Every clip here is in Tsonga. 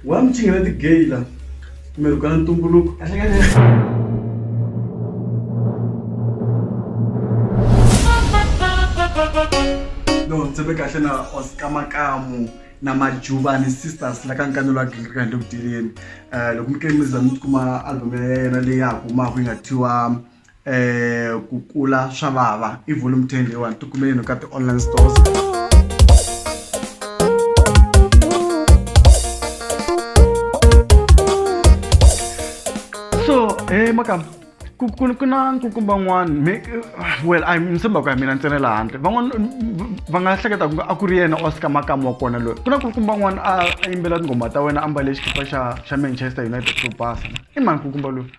wa mi chingela ti-gay la kumbe ri kala ntumbuluko no tshembe kahle na oskamakamu na majuvani sisters la ka nkanelo wa gingirika handle ku tireni um loko mi kele mi za mi tikuma album ya yena leyi ya ha humaka yi nga thiwa um ku kula swa vava i volume ten leyiwani ti kumeleni ka ti-online stores so he makama ku ku ku na nkukumba n'wana mi well a ni tshemba ku ya mina ntsena laha handle van'wana va nga hleketa ku a ku ri yena oscar makamu wa kona loyi ku na nkukumba n'wana a a yimbela tinghoma ta wena a mbale xikipa xa xa manchester united xo basa i mani nkukumba loyi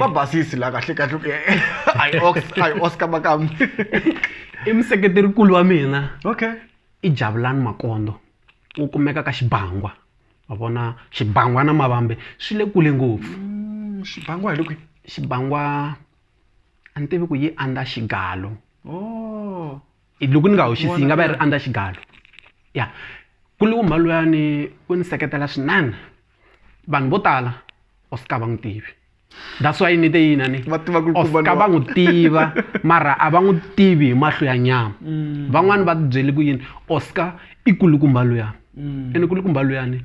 va basisi la kahle kahle a hi ox a hi oscar makamu i museketerikulu wa mina okay i javulani makondo wu kumeka ka xibangwa wa vona xibangwa na mavambe swi le kule ngopfu mm, xibangwa hi le kwihi xibangwa a ni tivi ku yi andza xigalo oh. loko ni nga hoxisi yi nga va yi ri under xigalo ya kule wo mhani luyani u ni seketela swinene vanhu vo tala u suka va n'wi tivi that's why ni te yini a ni u suka va n'wi tiva mara a va n'wi tivi hi mahlo ya nyama mm. van'wani va tibyele ku yini u suka i kulukumba luyani mm. ene kulukumba luyani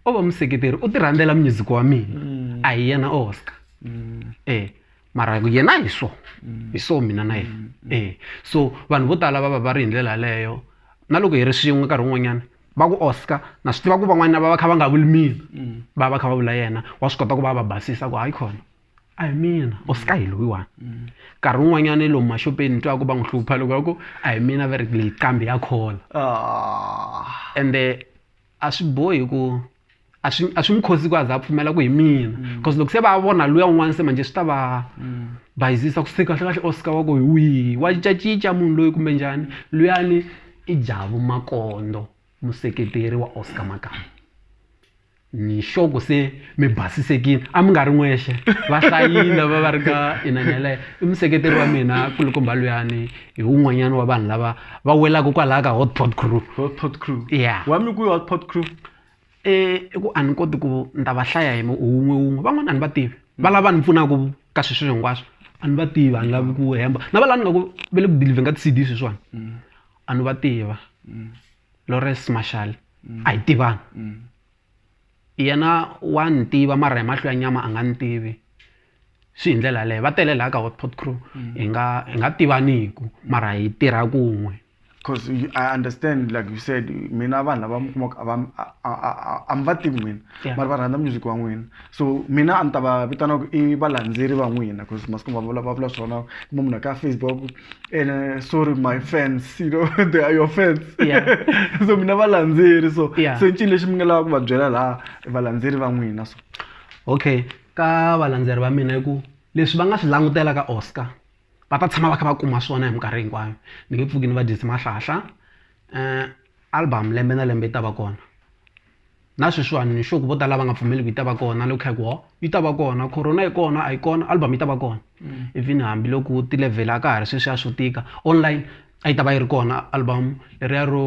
o va museketeri u ti rhandzela music wa mina mm. a hi yena o suka e mara yena hi so mm. hi so mina na yena mm. e so vanhu vo tala va va va ri hi ndlela yaleyo na loko hi ri swin'we nkarhi wun'wanyana va ku oscar na swi tiva ku van'wana va va kha va nga vuli mina mm. va va kha va vula yena wa swi kota ku va va basisa ku hayi khona a hi mina oscar hi loyiwani nkarhi wun'wanyana i lomu maxopeni twa ku va n'wi hlupha loko va ku a hi mina va ri leyi kambe ya khola ah. ende a swi bohi ku a swi a swi n'wi cost-i ku a za a pfumela ku hi mina coz loko se va vona luya un'wana se manjhe swi ta va bayizisa ku se kahlekahle Oscar wa ku hi wihi wa cincacinca munhu loyi kumbe njhani luyani i Jabu Makondo museketeri wa Oscar Makamu ni sure ku se mi basisekile a mi nga ri n'wexe va hlayile va va ri ka inani yeleyo i museketeri wa mina nkulukumba luyani. hi wun'wanyana wa vanhu lava va welaka kwalaha ka hot pot crew hot pot crew ya wa mi ku hot pot crew eh, i ku a ni koti ku ni ta va hlaya hi wun'we wun'we van'wana a ni va tivi va lava ni pfunaka ka swi swilo hinkwaswo a ni va tivi a ni lavi ku hemba na va lani nga ku va le ku dilivheni ka ti-cd sweswiwani mm. a ni va tiva mm. lores marshal mm. a hi tivani yena wa ni tiva mara hi mahlo ya nyama a nga ni tivi swi hi ndlela yaleyo va tele laha ka hotpot crew mm. hi nga hi nga tivaniku mara hi tirha kun'we because i understand like you said mina vanhu lava mi kumaka a mi va tivi n'wina mara va rhandza music wa n'wina so mina a ni ta va vitana ku i valandzeri va n'wina because masiku va vula va vula swona kuma munhu ka facebook and eh, sorry my fans you know they are your fans so mina valandzeri so se ncini lexi mi nga lava ku va byela laha valandzeri va n'wina so okay ka valandzeri va mina i ku leswi va nga swi langutela ka Oscar va ta tshama va kha va kuma swona hi minkarhi hinkwayo ni nge pfuki ni va dyise mahlahla um album lembe na lembe yi ta va kona na sweswiwani ni sure ku vo tala lava nga pfumeli ku yi ta va kona loko kha hi ku ho yi ta va kona corona yi kona a yi kona album yi ta va kona even hambiloko ti-level a ka ha ri sweswiya swo tika online a yi ta va yi ri kona album leriya ro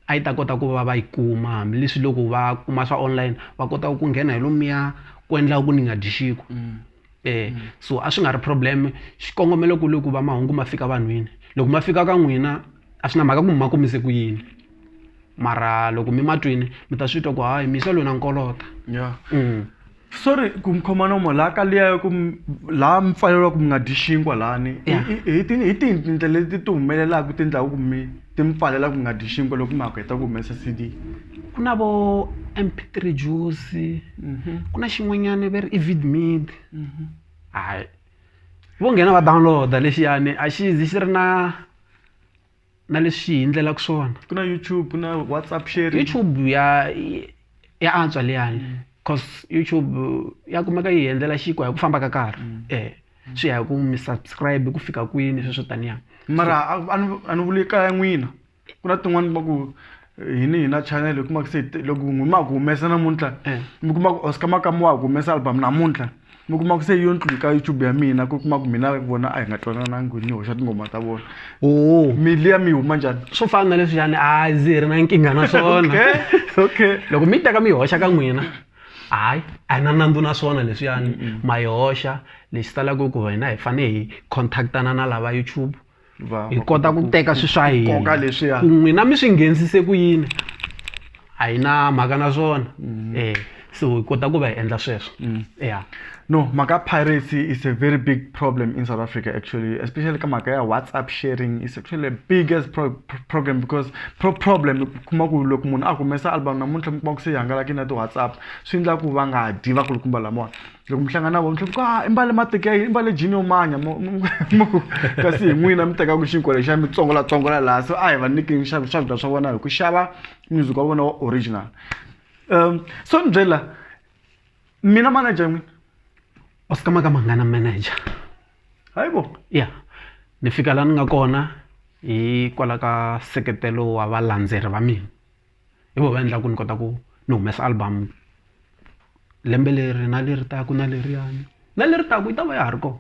a yi ta kota ku va va yi kuma hambileswi loko va kuma swa online va kota ku nghena hi lomuya ku endlaka ku ni nga dyi xinkwa mm. eh mm. so a swi nga ri problem xikongomelo ku le ku va mahungu ma fika vanhwini loko ma fika ka n'wina a swi na mhaka ku mi ma komise ku yini mara loko mi matwini mi ta swi twa ku hayi misa lona nkolota yeah. mm. sorry ku mi khoma nomo laha ka liya ku laha mi pfaleriwa ku mi nga dyi xinkwa lahani hi tindlela leti ti humelelaka ti endlaku ku mi ti mi pfalela ku mi nga dyi xinkwa loko mi ha ku heta ku humesa c d ku na vo mp three juice mhm. ku na xin'wanyana va ri i vidmid mhm. hayi vo nghena va download-a lexiyani a xi zi xi ri na na leswi hi endlelaka swona ku na youtube ku na whatsapp sharing youtube ya ya antswa liyani mm. cause youtube ya kumeka yi endlela xinkwa hi ku famba ka nkarhi mm. e swi ya hi ku mi subscribe ku fika kwini sweswo taniya mara a ni vuli kaya n'wina ku na tin'wani va ku hini hi na channel hi kuma ku se loko n'wi ma ku humesa namuntlha eh. mi kuma ku oscar makamu wa ha ku humesa album namuntlha mi kuma ku se yo ntlu ka youtube ya mina ku kuma ku mina vona a hi nga twananangi ni hoxa tinghoma ta vona oh. miliya mi huma njhani swo fana na leswiyani a ndzi hi ri na nkingha na swona okay loko mi teka mi hoxa ka n'wina hayi a hi na nandzu na swona leswiyani ma yi hoxa lexi talaka ku hina hi fanele hi contactana na lava youtube hi kota ku teka swi swa hina ku n'wina mi swi nghenisise ku yini a hi na mhaka na swona mm. eh so hi kota ku va hi endla sweswo mm. ya no mhaka piracy is a very big problem in south africa actually especially ka mhaka ya whatsapp sharing is actually a biggest pro problem because pro problem kuma ku loko munhu a humesa album namuntlha mi kuma ku se yi hangalaki na ti-whatsapp swi endla ku va nga dyi va kulukumba lamawani loko mi hlangana na vona mi ah, i mbale mateki ya i mbale jini yo manya kasi hi n'wina mi tekaka xinkwa lexa mi tsongolatsongola laha so a hi va nyiki swakudya swa vona hi ku xava music wa vona wa original um so ni byela mina manager n'wina wa swi kama ka mangana manager hayi bo ya ni fika laha ni nga kona hikwalaho ka seketelo wa valandzeri va mina hi vona va endlaka ku ni kota ku ni humesa album lembe leri na leri taka na leriyani na leri taka yi ta va ya ha ri kona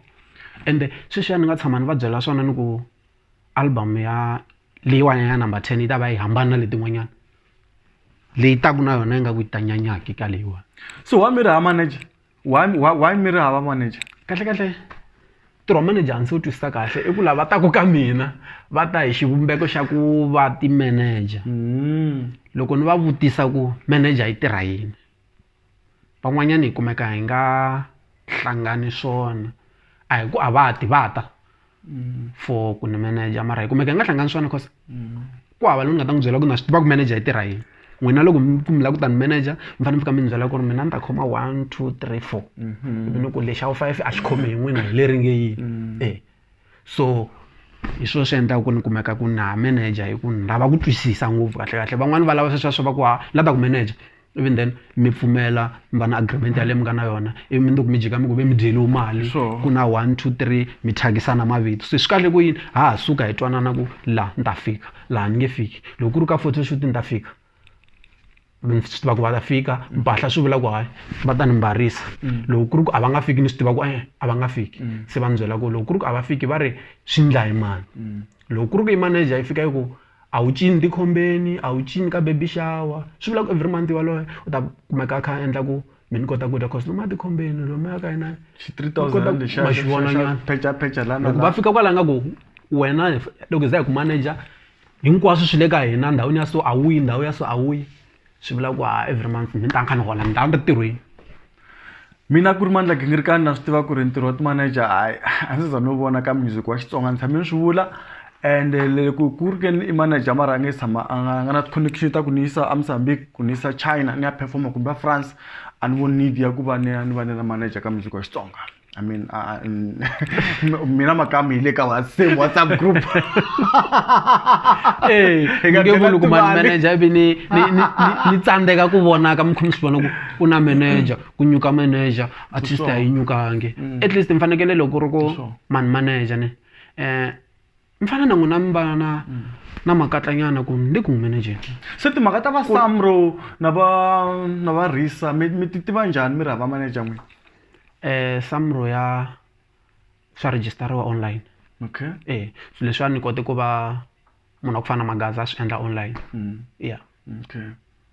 ende sweswiya ni nga tshama ni va byela swona ni ku album ya leyiwani ya number ten yi ta va yi hambana na letin'wanyana leyi taka na yona ingaku yi ta nyanya ka leyiwani so wa mi ri ha manager. why why why mi ri hava manager kahle kahle ntirho wa manager a ndzi wu twisisa kahle i ku lava taku ka mina va ta hi xivumbeko xa ku va ti-manager loko ni va vutisa ku manager yi tirha yini van'wanyana hi kumeka hi nga hlangani swona a hi ku a va ti va ta. mm. for ku ni manager mara hi kumeka hi nga hlangani swona cause mm. ku hava loyi ni nga ta n'wi byela ku na swi tiva ku manager yi tirha yini n'wina loko ku mi lava ku ta ni manager mi fanele mi fika mi ni byela ku ri mina ni ta khoma one two three four mm-hmm. ivi ni ku lexi awu five a xi khomi hi n'wina hi leri nge yini mm. e so hi swona swi endlaka ku ni kumeka ku na manager hi ku ni lava ku twisisa ngopfu kahle kahle van'wani va lava sweswiya swa va ku ha la ta ku manager even then mi pfumela mi va na agreement yaleyi mi nga na yona ivi mi nduku mi jika mi ku ve mi dyeliwe mali ku na one two three mi thyakisana mavito se swi kahle ku yini ha ha suka hi twanana ku laha ni ta fika laha ni nge fiki loko ku ri ka photo shoot ni ta fika ni swi tiva ku va ta fika mpahla swi vula ku hayi va ta ni mbarisa mm. loko ku ri ku a va nga fiki ni swi tiva ku e a va nga fiki mm. se va ni byela ku loko ku ri ku a va fiki va ri swi ndla hi mani mm. loko ku ri ku i manager yi fika yi ku a wu cini tikhombeni a wu cini ka baby shower swi vula ku every month yaloye u ta kumeka a kha a endla ku mi ni kota ku dya cause lomuya tikhombeni lomuya ka yena loko va fika kwala nga ku wena loko hi za hi ku manager hinkwaswo swi le ka hina ndhawini ya so a wu yi ndhawu ya so a wu yi. swi vula ku a every month ni ta ni kha ni hola ni ta ni ri tirhweni mina ku ri mandla gingirikani na swi tiva ku ri ntirho wa ti-manager hayi a ndzi za no vona ka music wa xitsonga ni tshame ni swi vula and loko ku ri ke ni i manager mara a nge tshama a nga nga na ti-connection ta ku ni yisa amozambique ku ni yisa china ni ya performer kumbe a france a ni voni need ya ku va ni ya ni va ni ri manager ka music wa xitsonga I mean, uh, uh, mm, mina makam hi le ka wa- same WhatsApp group. Ee, Hi nga nge byela vuli ku mani timali. manager ivi ni ni ni- ni- ni tsandzeka ku vonaka mi kha mi swi vona ku ku na manager ku nyuka manager artist a yi nyukangi at least mi fanekele loko ri ku Sure. mani manager ni um mi fana na n'wina mi va na na makatlanyana ku ni le ku n'wi manajeni se timhaka ta va samro na va na va risa mi mi ti tiva njhani mi ri hava manager n'wina um samro ya swa register-iwa online okay e swilo leswiwani ni kote ku va munhu wa ku fana na magaza a swi endla online ya. okay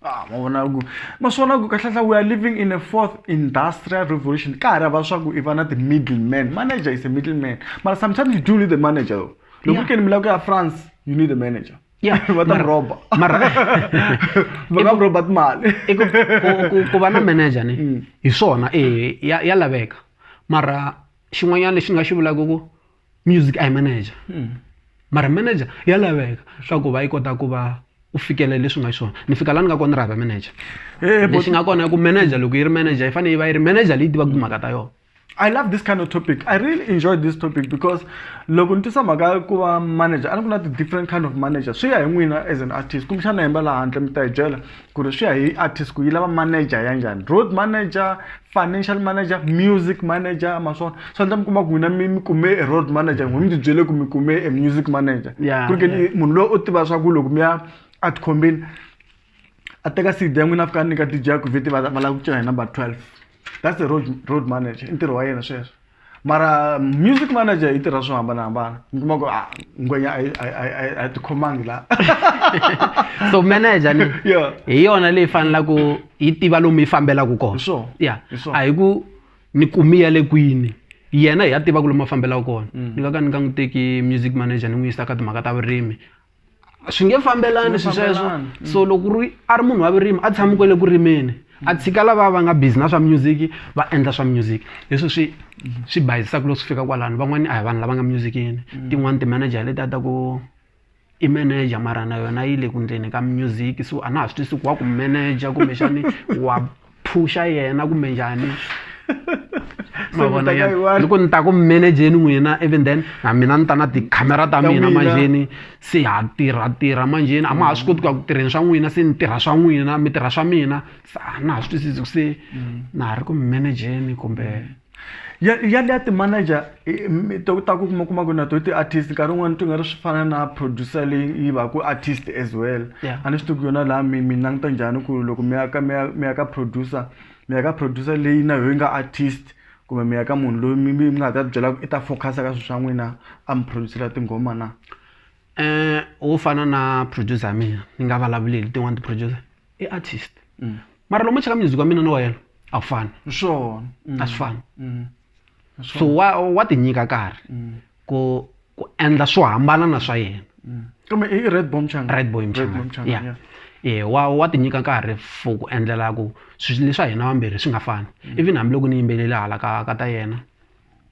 ah mavona ku ma swi vona ku kahlahla we are living in a fourth industrial revolution ka ha ri hava swa ku i va na ti-middle man manager is a middle man mara sometimes you do need a manager though loko ku keni mi lava ku ya france you need a manager Yeah, va ta mara- roba mara va nga roba timali i ku- ku- ku- ku va na manager ni hi swona eh, ya ya laveka mara xin'wanyana lexi ni nga xi vulaka ku music a hi manager hmm. mara manager ya laveka swa ku va yi kota ku va u fikela leswi nga xiswona ni fika la ni nga kona ni ri hava manager eh, eh, lexi nga kona i ku manager loko yi ri manager yi fanele yi va yi ri manager leyi tivaka timhaka ta yona I love this kind of topic. I really enjoy this topic because loko ni tisa mhaka ya ku va manager a ni ku na ti-different kind of manager swi ya hi n'wina as an artist kumbexana hemba laha handle mi ta hi byela ku ri swi ya hi artist ku yi lava manager ya njhani road manager financial manager music manager ma swona swi endla mi kuma ku n'wina mi mi kume e road manager n'wi mi ti byele ku mi kume e music manager ku ri ke munhu loyi u tiva swa ku loko mi ya a tikhombeni a teka cd ya n'wina a fika a nyika dj ya ku vheti va va lava ku cina hi number twelve that's the road road manager i ntirho wa yena sweswo mara music manager yi tirha swo hambanahambana mi kuma ku ah, ngwenya a yi- a yi- a yi- a yi- a yi tikhomangi la so manager ni Yeah. hi yona leyi fanelaka yi tiva lomu yi fambelaka kona Hi swona. ya Hi swona. a hi ku ni kumiya le kwini yena hi ya tiva ku lomu a fambelaka kona ni nga ka ni nga n'wi teki music manager ni n'wi yisa ka timhaka ta vurimi swi nge fambelani swi sweswo so loko ri a ri munhu wa vurimi a tshami kwale ku rimeni a tshika lava va nga busy na swa music va endla swa music leswi swi swi bayizisaka loko swi fika kwalano van'wani a hi vanhu lava nga musicini tin'wani ti-manager leti a ta ku i manager mara na yona yi le ku endleni ka music so a na ha swi twisisi ku wa ku manager kumbexani wa. phuxa yena kumbe njhani ma vona yena loko ni ta ku manageni n'wina even then na mina ni ta na tikhamera ta mina manjheni se ha tirha tirha manjheni a ma ha swi koti ku ya ku tirheni swa n'wina se ni tirha swa n'wina mi tirha swa mina se a na ha swi twisisi ku se mm. na ha ri ku manageni kumbe ya ya liya ti-manager i- mi- to ta ku kuma kuma ku na to ti-artist nkarhi wun'wana ti nga ri swi fana na producer leyi yi va ku artist as well Yeah. a ni swi tivi ku yona laha mi mi languta njhani ku loko mi ya ka mi ya mi ya ka producer mi ya ka producer leyi na yoyi nga artist kumbe mi ya ka munhu loyi mi mi mi nga ta byela ku i ta focus-a ka swilo swa n'wina a mi producer-la tinghoma na um wo fana na producer ya mina ni nga vulavuleli tin'wani ti-producer i artist mm. mara loko mo cheka music wa mina na wa yena a wu fani swona a swi fani so wa wa tinyika karhi ku ku endla swo hambana na swa yena kumbe i red bomb changa red bomb changa yeah eh wa wa tinyika nkarhi for ku endlela ku swilo leswa hina vambirhi swi nga fani mm. even hambiloko ni yimbelele hala ka ka ta yena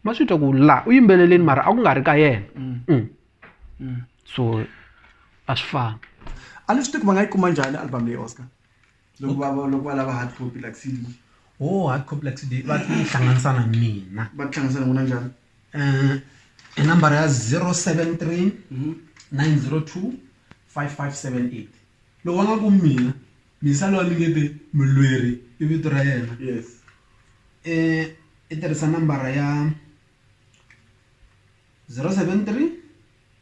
ma swi twa ku la u yimbeleleni mara a ku nga ri ka yena mm. Mm. mm. so a swi fani a ni swi tivi ku va nga yi kuma njhani album leyi oscar loko va loko va lava hard copy like cd o oh, hard copy like cd va tihlanganisa na mina va tihlanganisa na n'wina njhani um i nambara ya zero seven three mm-hmm. nine zero two five five seven eight loko va nga ku mina misa lowa ni nge te mulweri i vito ra yena yes um i tirhisa nambara ya 073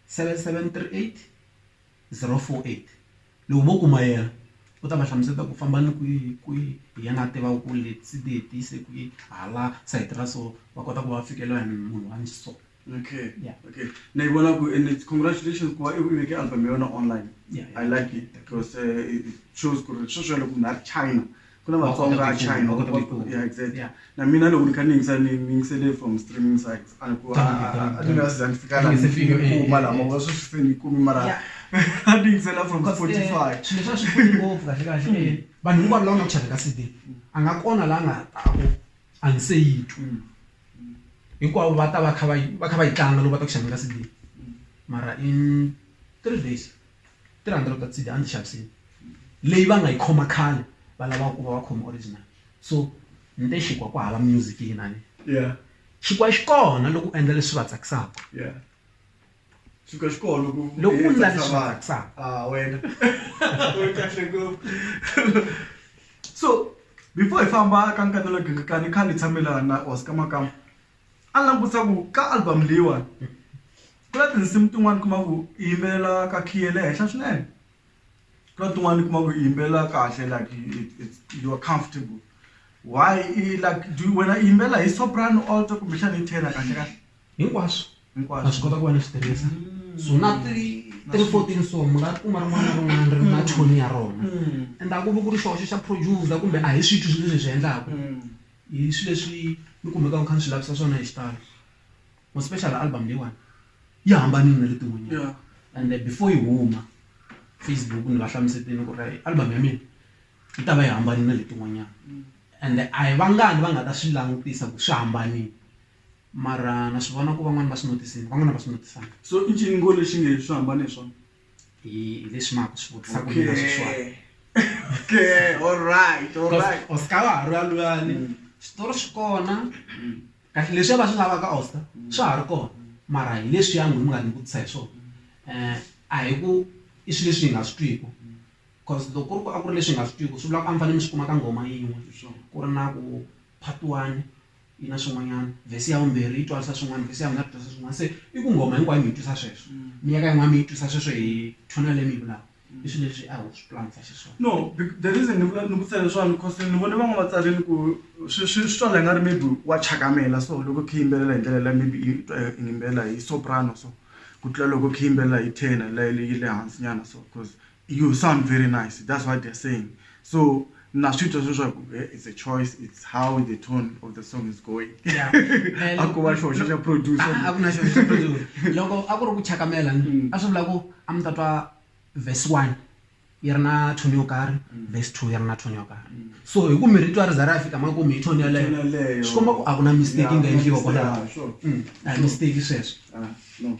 7738 048 Loko vo kuma yena, u ta va hlamuseta ku famba ni kwihi hi kwihi hi yena a tivaka ku leti ti hetise kwihi hala sayiti ra so, va kota ku va fikeleriwa hi munhu wa so. Okay. Yeah. Okay. Na yi vona ku and congratulations ku va i veke album ya wena online. Yeah, yeah. I like it because uh, it shows ku ri sweswiya loko munhu a ri China ku na vatsongo va china yeah exactly yeah. na mina loko ni kha ni yingisa ni yingisele from streaming sites a ni ku a ni nga siza ni fika la ni fike eh, kuma eh, lama eh. va swi se ni kumi mara a ni yingisela from spotify swilo swa swi pfuni ngopfu kahle kahle mm. vanhu hinkwavo lava nga ku xaveka cd a nga kona la nga taku a ni se yi twi mm. hinkwavo va ta va kha va va kha va yi tlanga loko va ta ku xaveka cd mm. mara in three days 300 cd a ndzi xavisile leyi va nga yi khoma khale va lava ku va va khoma original so ni te xikwaa ku hava music yinani yeah xikwaa xi kona loko u endla leswi va tsakisaka yeah xikwaa xi kona loko loko u endla leswi va tsakisaka ah wena u kahle ngopfu so before hi famba ka nkatelo gingikani khale tshamelana na Oscar Makamba a ni langutisa ku ka album leyiwani ku na tinsimu tin'wani kuma ku i yimbelela ka key ya le henhla swinene ku na tin'wani kuma ku i yimbelela kahle like you are comfortable why i like do wena i yimbelela hi soprano alto kumbexana hi tenor kahle kahle hinkwaswo Hinkwaswo. na swi kota ku va ni swi tirhisa so na ti- three fourteen so mi nga kuma rin'wana na rin'wana ri ri na tone ya rona and a ku vi ku ri xoxo xa producer kumbe a hi swithu swi leswi hi swi endlaku Hi swi leswi ni kumekaka ni kha ni swi lavisa swona hi xitalo more special album leyiwani yi hambanile na letin'wanyana ende before yi huma Facebook ni va hlamusetile ku ri album ya mina yi ta va yi hambane na letin'wanyana ende a hi vangani va nga ta swi langutisa ku swi hambanile mara na swi vona ku van'wani va swi notice-ini van'wani a va swi notice-angi. So i ncini ngo lexi nge swi hambane hi swona? Y, y this month, so okay. kumina sweswani. Okay, all right, all right. Oscar wa ha ri valwani. Mm. Switori swi kona. Mm. Kasi leswi va swi lavaka Oscar, mm. swa ha ri kona. Mara hi leswi ya n'wina mi nga ni vutisa hi swona. Eh, a hi ku i swilo leswi hi nga swi twiki. Because loko ku ri ku a ku ri leswi hi nga swi twiki, swi vula ku a mi fanele mi swi kuma ka nghoma yin'we. Ku ri na ku part one, yi na swin'wanyana, vhesi ya vumbirhi yi twarisa swin'wana, vhesi ya vunharhu yi twarisa swin'wana. Se i ku nghoma hinkwayo mi yi twisa sweswo, mi ya ka yin'wana mi yi twisa sweswo hi tone leyi mi yi vulaka. I swilo leswi a ho swi pulanisa xiswona. No, the reason ni vula ni vutisa leswiwani coz ni vone van'wana va tsarile ku swi swi swi twa la nga ri maybe wa chakamela so loko khe yimbelela hi ndlela liya maybe i twa i yimbelela hi soprano so ku tlula loko khe yimbelela hi tenor leyi yi le hansi nyana so coz You sound very nice, that's what they're saying. So na swi twa sweswa ku eh, it's a choice it's how the tone of the song is going Yeah. Eh, a ku va xihoxo xa producer Ah, a ku na xihoxo xa producer. loko a ku ri ku chakamela Mm. a swi vula ku a mi ta twa verse one yi ri na tone yo karhi Mm. verse two yi ri na tone yo karhi so hi ku mi ri twa ri za ri ya fika ma ku mi hi tone Tone yeleyo yeleyo. swi komba ku a ku na mistake yi nga Yeah, endliwa mistake, kwalaho ah, sure. Mm, a hi mistake sweswo Ah, no.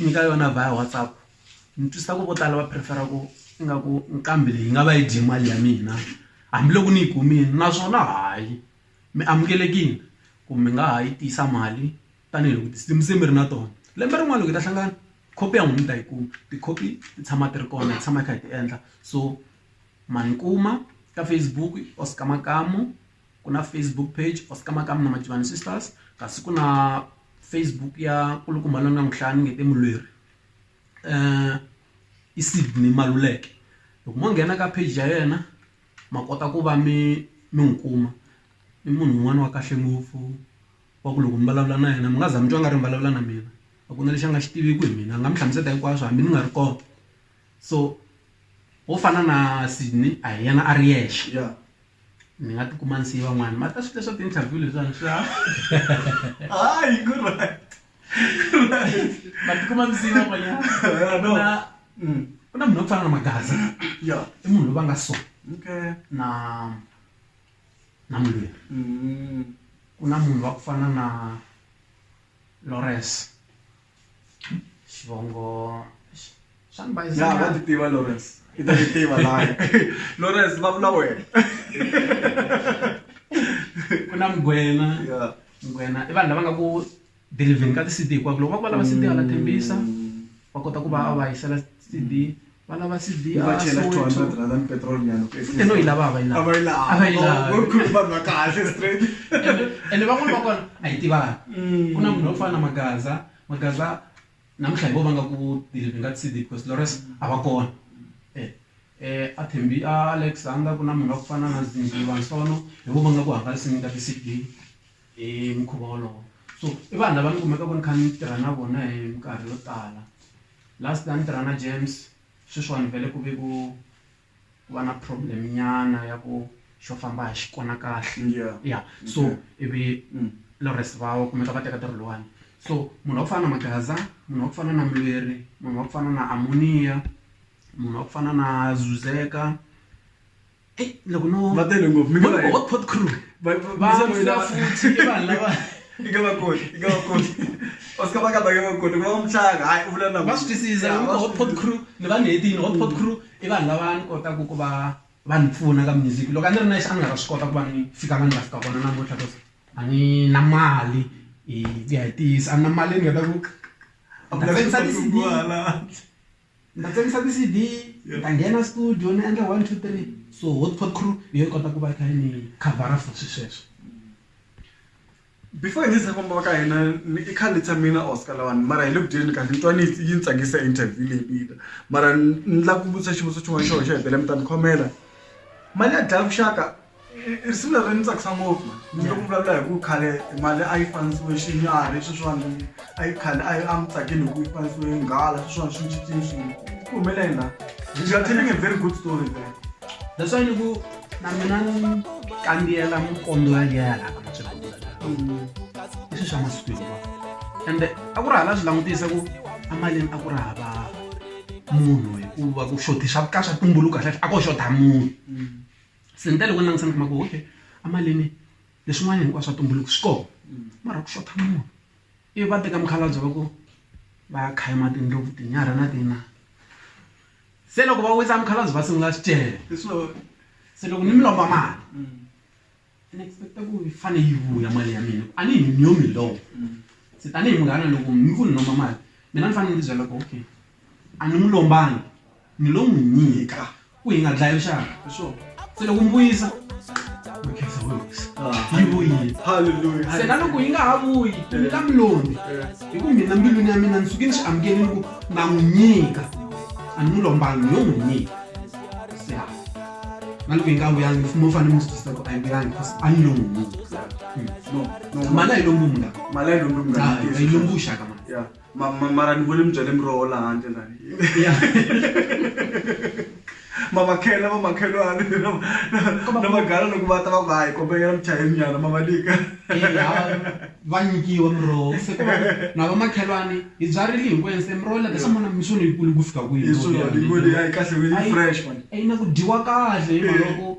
nyika yona via WhatsApp ni twisisa ku vo tala va prefer-a ku ingaku nqambi leyi nga va yi dye mali ya mina hambiloko ni yi kumile naswona hayi mi amukelekile ku mi nga ha yi tisa mali tanihiloko tinsimu se mi ri na tona lembe rin'wana loko hi ta hlangana copy ya n'wina mi ta yi kuma ti-copy ti tshama ti ri kona hi tshama hi kha hi ti endla so ma ni kuma ka Facebook Oscar Makamu. ku na Facebook page Oscar Makamu na Mativani Sisters kasi ku na Facebook ya nkulukumba loyi ni nga n'wi hlaya ni nge te mulweri um i Sydney Maluleke loko mo nghena ka page ya yena ma kota ku va mi mi n'wi kuma i munhu un'wana wa kahle ngopfu wa ku loko mi vulavula na yena mi nga za mi twa nga ri mi vulavula na mina a ku na lexi a nga xi tiviki hi mina a nga mi hlamusela hinkwaswo hambi ni nga ri kona so wo fana na Sydney a hi yena a ri yexe. ni nga ti kuma ni siye van'wana ma ta swi leswa ti-interview leswiwani swa hayi ku right ma ti kuma mi siye van'wanyana ku na mm. ku na munhu wa ku fana na magaza ya i munhu loyi va nga so okay na na mulweri mm. ku na munhu wa ku fana na lores xivongo xa ni bayisa ya va nyana. ti tiva lawrence i ta ti tiva laya lawrence vulavula wena ku na mugwena ya mugwena i vanhu lava nga ku delivheni ka ti-cd hinkwako loko va ku va lava cd hala thembisa va kota ku va va yisela CD va lava CD a va chela 200 rand and petrol nyana ku ehlisa no ilava va ilava va ilava va ilava ku khulu vanhu va kahle straight ene van'wana va kona a yi tivana mm. ku na munhu wa ku fana na magaza magaza namuntlha hi vo va nga ku deliver nga CD because lores a va kona eh eh a thembi a alexander ku na munhu wa ku fana na zimbi vansono hi vo va nga ku hangalasini nga ti CD hi mukhuva wolowo so i vanhu lava ni kumeka ku ni kha ni tirha na vona hi minkarhi yo tala Last time ni tirha na James sweswiwani vhele ku ve ku ku va na problem nyana ya ku xo famba a hi xi kona kahle ya so ivi Lawrence va kumeka va teka ntirho lowani so munhu wa ku fana na Magaza munhu wa ku fana na Mulweri munhu wa ku fana na Amonia munhu wa ku fana na Zuzeka. Hey, loko no va tele ngopfu mi nga va hot pot crew va va va futhi i vanhu lava i nga va koti i nga va koti osika va ka ba nga va koti ku va mutlanga hayi u vula na va swi twisisa loko hot pot crew ni va ni hetini hot pot crew i vanhu lava ni kotaka ku va va ni pfuna ka music loko a ni ri nexe a ni nga ta swi kota ku va ni fika la ni nga fika kona namuntlha cause a ni na mali hi ku ya hi ntiyiso a ni na mali ni nga ta ku a ku lavi ku fambisiwa hala. Ni ta tsakisa ti-C_D, ni ta nghena studio ni endla one, two, three so Hotpot Crew hi yona yi kota ku va yi kha yi ni khavhara for swi sweswo. Before hi nga se famba va ka hina ni i khale ni tshame na Oscar lawani mara hi le ku dyeni kahle ni twa ni yi ni tsakisa interview leyi mina mara ni lava ku vutisa xivutiso xin'wana xo xo hetelela mi ta ni khomela mali ya dlaya vuxaka. risimu leri ni tsakisa ngopfu ni loko vulavula hi ku khale mali a yi fanisiwe xinyari sweswiwani a yi khale a yi a mi tsakeli hi ku yi fanisiwe nghala sweswiwani swi cincini swilo ku humeleni la you are telling a very good story there that's why ni ku na mina ni kambiyela mukombi wa liya yalaka matswela i swi swa masiku hinkwa ende a ku ri hala swi langutisa ku emalini a ku ri hava munhu hikuva ku xotisa ka swa tumbuluka hlahla a ko xota munhu mm. se ni tale ku langutisa ni kuma ku okay amalini leswin'wana hinkwaswo swa tumbuluka swi kona mara ku xotha munhu ivi va teka mukhalabye va ku va ya khayima tindlopfu tinyarha na tina se loko va wisa mukhalabye va sungula swicele se loko ni mi lomba mali ni expect-a ku yi fane yi vuya mali ya mina a ni hi ni yo mi lomba se tanihi munghana loko mi ku ni lomba mali mina ni fanele ni ti byela ku okay. A ni n'wi lombangi, ni lo n'wi nyika ku hi nga dlayi rixaka. Se loko mi vuyisa, mi khensa Hosi. Yi vuyile. Se na loko yi nga ha vuyi, mi nga mi lombi. Hi ku mina mbilwini ya mina ni suke ni xi amukele ni ku na n'wi nyika. A ni n'wi lombangi, ni lo n'wi nyika. Ya. Na loko yi nga vuyangi, mi fanele mi swi twisisa ku a yi vuyangi because a ni lo n'wi nyika. Mali a yi lombiwi mungani. Hayi, a yi lombiwi xaka mani. ma, ma, mara ni vone mi byale miroho laha handle la mamakhela vamakhelwani na magala loko va ta va ku hayi kombekela muchayeni nyana ma va nyika va nyikiwa miroho se ku va na vamakhelwani hi byarile hinkwenu se miroho leta swa mona misuni yikulu ku fika kwihi kahle yi fresh man yi na ku dyiwa kahle hi maloko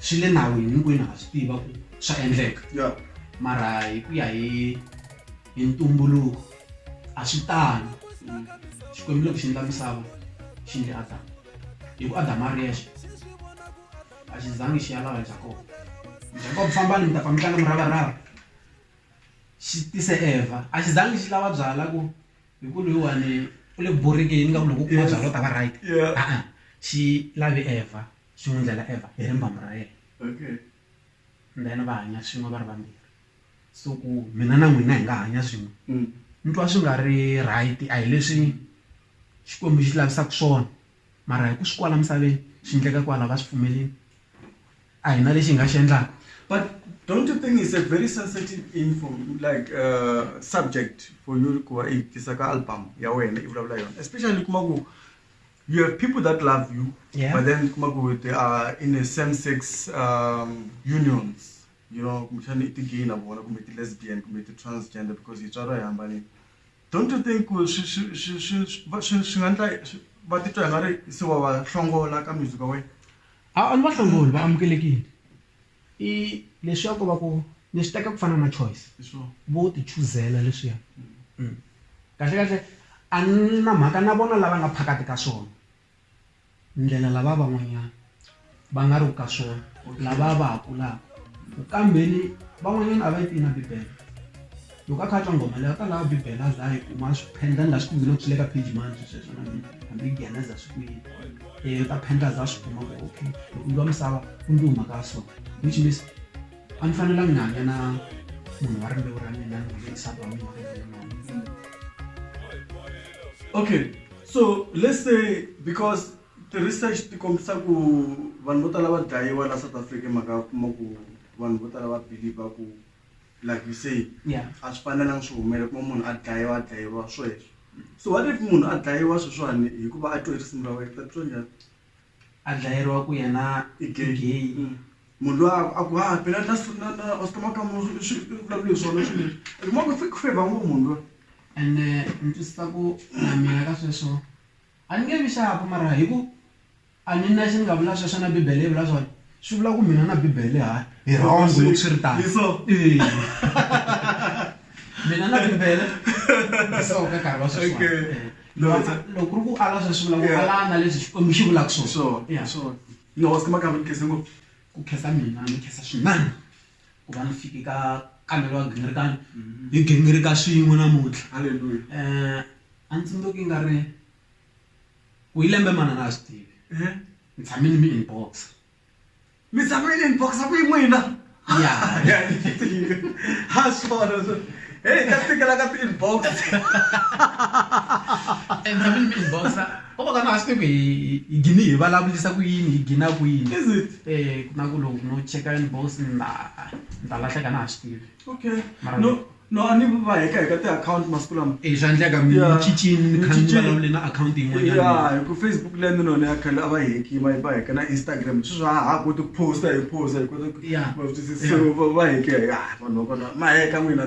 swi le nawini hinkwenu ha swi tiva ku swa endleka mara hi ku ya hi hi ntumbuluko a swi tani xikwembu loko xi endla misava xi ndle adamu hi ku adamu a ri yexe a xi zangi xi ya lava jakoba jakoba fambani mi ta fa mi tlanga muravarava xi tise evha a xi zangi xi lava byala ku hi ku loyiwani u le ku borhekeni nga ku loko u kuma byala u ta va right xi lave evha xi n'wi ndlela Evha hi rimbambu ra yena. Okay. And then va hanya swin'we va ri vambirhi. So ku mina na n'wina hi nga hanya swin'we ni twa swi nga ri right a hi leswi Xikwembu xi lavisaka swona mara hi ku swi kwala misaveni swi endleka kwala va swi pfumelini a hi na lexi hi nga xi endlaka. But don't you think it's a very sensitive info like subject for you ku va i yi tisa ka album ya wena i vulavula hi yona especially u kuma ku you have people that love you yeah. but then kuma ku they are in a same sex um, unions you know kumbexana i ti-gay na vona kumbe ti-lesbian kumbe ti-transgender because hi tswaro hi hambanile don't you think swi nga ndla va titwa hi nga ri se wa va hlongola ka music wa wena a ni va hlongoli va amukelekile I leswaku va ku ni swi teka ku fana na choice vo ti chuzela leswiya kahle kahle a ni na mhaka na vona lava nga phakati ka swona ndlela lava van'wanyana va nga ri ka swona lava va ha kulaka ku kambeni van'wanyana a va yi tivi na bibele. Loko a kha a twa nghoma leyi a ta lava bibele a za a yi kuma a swi phendla ni laha swi kumile loko swi le ka page mani swi sweswo na mina hambi nghena za swi kuyini um u ta phendla za a swi kuma ku okay loko ndzi wa misava ku ndzi huma ka so which means a ni fanelanga ni hanya na munhu wa rimbewu ra mina ni hanya nsati wa mina okay so let's say because ti-research ti kombisa ku vanhu vo tala va dlayiwa la south africa mhaka ya kuma ku vanhu vo tala va believe ku like you say yeah a swi fanelanga swi humelela kuma munhu a dlayiwa a dlayiwa sweswo so what if munhu a dlayiwa sweswiwani hikuva a twe risimu ra wena tatwa njhani a dlayeriwa ku yena i gay gay mm. munhu loyi a ku ha phela na na na ositoma ka munhu swi vulavula swona swi leswi kuma ku fake favor ngopfu munhu loyi and eh, ni twisisa ku na mina ka sweswo A ni nge vi xaku mara hi ku a ni nexe ni nga vula sweswo na Bibele yi vula swona, swi vula ku mina na Bibele ha hi wrong loko swi ri tano. Mina na Bibele hi so ka nkarhi wa sweswiwani. Loko ku ri ku ala sweswo swi vula ku ala na leswi Xikwembu xi vulaka swona. Hi swona. Hi swona. Ni nga wasi ka Makambe ni khensa ngopfu. Ku khensa mina ni khensa swinene. ku va ni fike ka kamelo wa gingirikani hi gingirika swin'we namuntlha Hallelujah. um a ni tsundzuki nga ri ku yi lembe manana a swi tivi Eh, ni tshame ni mi inbox mi tshame ni inbox ku yi n'wina ya ha swona swo heyi ka tikela ka ti-inbox ni tshame ni mi inbox ko va ka na a swi tivi ku hi hi gini hi vulavulisa ku yini hi gina kwini Is it? ku na ku loko no cheka ni boss ni ta ni ta lahleka a na ha swi tivi okay mara no no a ni va heka heka tiakhawunti masiku lama e swa endleka mi cincile ni kha ni vulavule na akhawunti yin'wanyana ya hi ku Facebook leyi ni none ya khale a va yi heki va va heka na Instagram sweswi a ha ha koti ku post-a hi post-a hi kota ku va va heke ya vanhu va kona ma heka n'wina .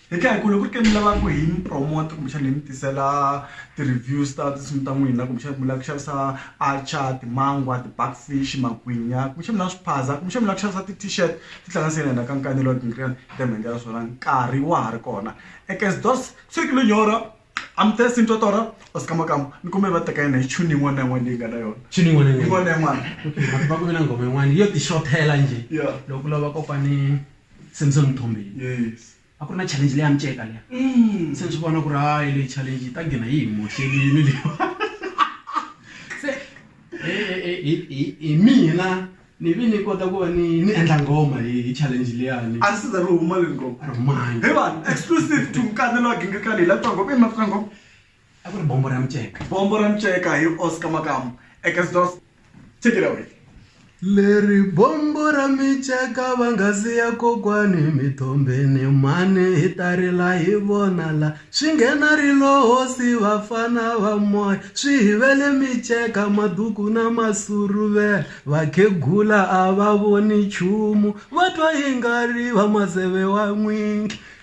Hi tlhela hi ku loko ku ri ke ni lava ku hi mi promote kumbexana hi mi tisela ti-reviews ta tinsimu ta n'wina kumbexana mi lava ku xavisa atchar timangwa ti-back fish magwinya kumbexana mi lava swiphaza kumbexana mi lava ku xavisa ti-t-shirt tihlanganise na hina ka Nkani Lord and Creon hi ta mi endlela swona nkarhi wa ha ri kona ekes dos siku lo nyora amtes into tora os kama kama ni kombela va teka yona hi tune yin'wana na yin'wana leyi nga na yona Tune yin'wana na yin'wana. yin'wana na yin'wana Okay, va ku ve na nghoma yin'wana yo ti xothela njhe Yeah. loko u lava kokwani se ni se ni thombile a ku ri na challenge leya miceka leya mm. se ni swi vona ku ri hayi leyi challenge yi ta gina yi hi mohlelini leyi se hi mina ni vi ni kota ku va ni ni endla ngoma hi hi challenge liyani a ri siza ri huma le ngoma a ri humangi hi vanhu exclusive to mkanelo wa gingirikani hi la twa ngoma i mati twa ngoma a ku ri bombo ra miceka bombo ra miceka hi oscar makamu ekesdos take it away leri bombo ra miceka va nga siya kokwani mithombeni mhani hi ta rila hi vona la swi nghena ri lo hosi vafana va moya swi hivele miceka maduku na masuruvela vakhegula a va voni nchumu va twa yi nga ri va maseve wa n'wingi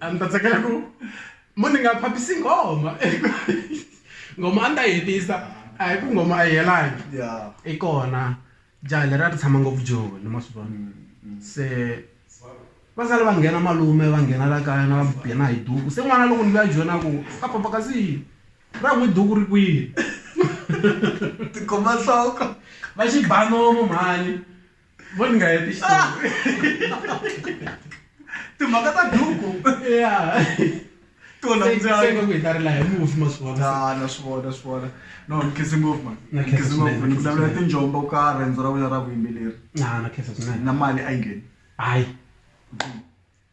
a ni ta tsakela ku mo ni nga phapisi nghoma nghoma a ni ta yi hetisa a hi ku nghoma a yi helangi Yeah. i kona jaha leri a ri tshama ngopfu joni ma swi vona se va sale va nghena malume va nghena la kaya na va mu biha na hi duku se n'wana loko ni vuya joni a ku a papa kasi ra n'wi duku ri kwihi Tikhoma nhloko. va xibanomo mhani vo ni nga heti xitori timhaka ta duku ya tona Se- se ndzayi nga ku hi ta ri laha hi mufi maswona na na swi vona swi vona no ni khizi ngopfu man Na Ni khizi khizi ngopfu swinene, ni vulavula khizi tinjomba u ka riendzo ra wena ra vuyimbeleri na na khensa swinene na mali a yi ngheni hayi